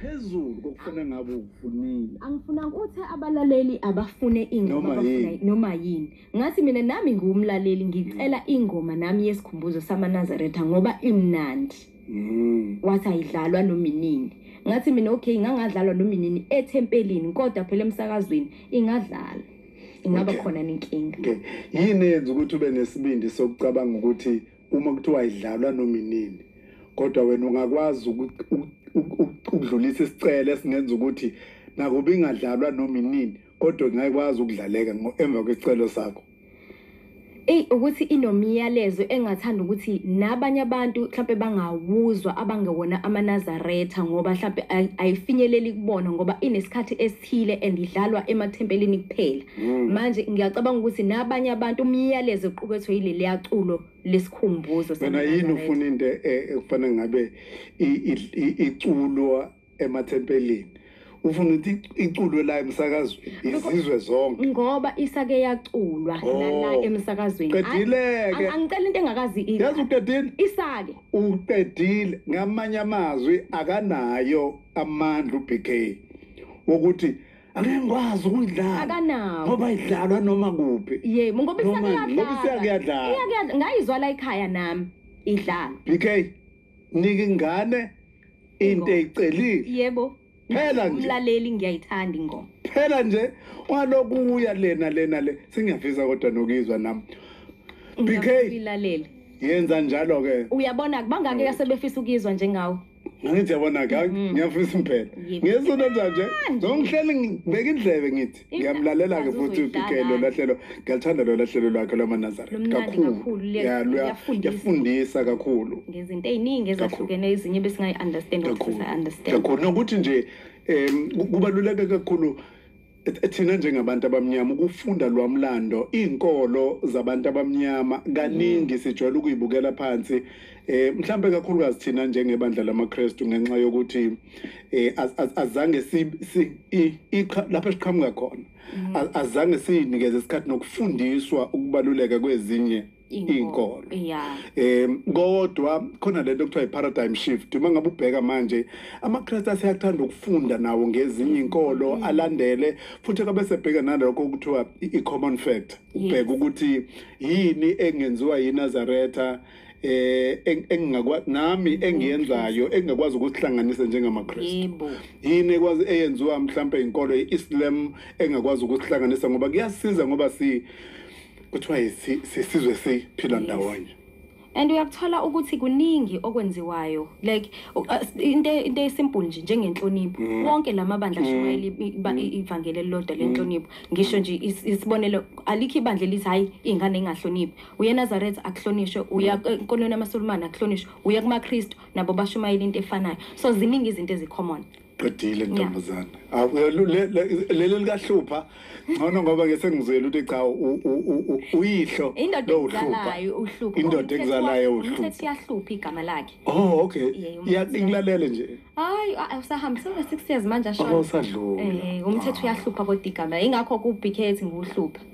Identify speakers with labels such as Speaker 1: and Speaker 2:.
Speaker 1: phezulu kokufuna ngabe ukufunile angifunanga ukuthi
Speaker 2: abalaleli abafune ingoma abafuna noma yini ngathi mina nami ngiwumlaleli ngicela ingoma nami yesikhumbuzo samanazaretha ngoba imnandi mm. wathi ayidlalwa nominini ngathi mina okay ngangadlalwa nominini ethempelini kodwa phela emsakazweni ingadlala ingaba khona nenkinga yini
Speaker 1: yenza ukuthi ube nesibindi sokucabanga ukuthi uma kuthiwa idlalwa noma inini kodwa wena ungakwazi ukudlulisa isicelo esingenza ukuthi nakuba ingadlalwa noma inini kodwa ngayikwazi ukudlaleka emva kwesicelo sakho eyi
Speaker 2: ukuthi inomyalezo engathanda ukuthi nabanye abantu mhlawumpe bangawuzwa abangewona amanazaretha ngoba mhlawumpe ayifinyeleli kubona ngoba inesikhathi esi thile and idlalwa emathempelini kuphela mm. manje ngiyacabanga ukuthi nabanye abantu umyalezo oqukethwe yileli yaculo lesikhumbuzo mina yini ufuna
Speaker 1: into e, e, ekufana ngabe iculwa emathempelini ufuna ukuthi iculwe la emsakazweni izizwe zonke ngoba isake
Speaker 2: yaculwa nala oh. emsakazweni qedileke
Speaker 1: angicela into engakazi
Speaker 2: into yazi uqedile
Speaker 1: isake
Speaker 2: uqedile
Speaker 1: ngamanye amazwi akanayo amandla uBK wokuthi angeke ngikwazi ukuyidlala akanawo ngoba
Speaker 2: idlalwa noma
Speaker 1: kuphi yebo ngoba Noma-
Speaker 2: ngoba isakuyadlala isakuyadlala.
Speaker 1: Iyakuyadla- ngayizwa la
Speaker 2: ekhaya nami idlala bk
Speaker 1: nika ingane into eyicelile yebo
Speaker 2: Phela nje.
Speaker 1: umlaleli ngiyayithanda
Speaker 2: ingoma phela nje
Speaker 1: walokuya lena lena le sengiyafisa kodwa nokuyizwa nami bk Ngiyakuyilalela.
Speaker 2: yenza
Speaker 1: njalo-ke uyabona kubangaki
Speaker 2: asebefisa ukuyizwa njengawe ngithi yabona
Speaker 1: ka mm-hmm. ngiyafisa impela ngesona njanje ngihleli ngibeka indlebe ngithi ngiyamlalela ke futhi ubikelo lahlelo ngiyathanda lo lahlelo lwakhe lwamanazareth kakhulu yafundisa kakhulu ngezinto eziningi ezahlukene
Speaker 2: ezinye besingayi understand ukuthi understand kakhulu nokuthi nje
Speaker 1: em kubaluleke kakhulu thina njengabantu abamnyama ukufunda lwamlando izinkolo zabantu abamnyama kaningi mm. sijwayele ukuyibukela phansi eh mhlambe kakhulukazi thina njengebandla lamaKristu ngenxa yokuthi eh azange si lapha siqhamuka khona mm. azange sinikeze isikhathi nokufundiswa ukubaluleka kwezinye inkolo yeah em kodwa khona lento okuthiwa i-paradigm shift uma ngabe ubheka manje amaKristu aseyakuthanda ukufunda nawo ngezinye inkolo mm. alandele futhi akabe sebheka nalokho okuthiwa i-common fact ubheka ukuthi yini engenziwa yiNazaretha eh engingakwa nami engiyenzayo engingakwazi ukusihlanganisa njengamaKristu yini ekwazi eyenziwa mhlawumbe inkolo iIslam engakwazi ukusihlanganisa ngoba kuyasiza ngoba si kuthiwa isizwe siphila ndawonye and uyakuthola
Speaker 2: ukuthi kuningi okwenziwayo like uh, into into esimple nje njengenhlonipho mm. wonke lamabandla mm. ashumayela mm. ivangeli elilodwa lenhlonipho ngisho nje isibonelo alikho ibandla elithi hayi ingane ingahloniphi uye Nazareth akuhlonishwe uya enkolweni yamaSulumane akuhlonishwe uya kumaKristu nabo bashumayela into efanayo so ziningi izinto ezicommon qedile
Speaker 1: ntombazane awu eh, lu- le- le- leli likahlupha ngcono ngoba ke sengizwele ukuthi cha u- u- u- u- uyihlo indoda lowuhlupha. ekuzalayo uhlupha Indoda Umthetho ekuzalayo wa- uhlupha. umthetho iyahlupha igama
Speaker 2: lakhe oh okay Yeah, uma
Speaker 1: Ya- usiya- ngilalele nje hayi a- usahamba
Speaker 2: sewune-six years manje ashona oh sadlula Eh,
Speaker 1: umthetho uyahlupha
Speaker 2: kodwa igama ingakho ku-bk ethi nguhlupha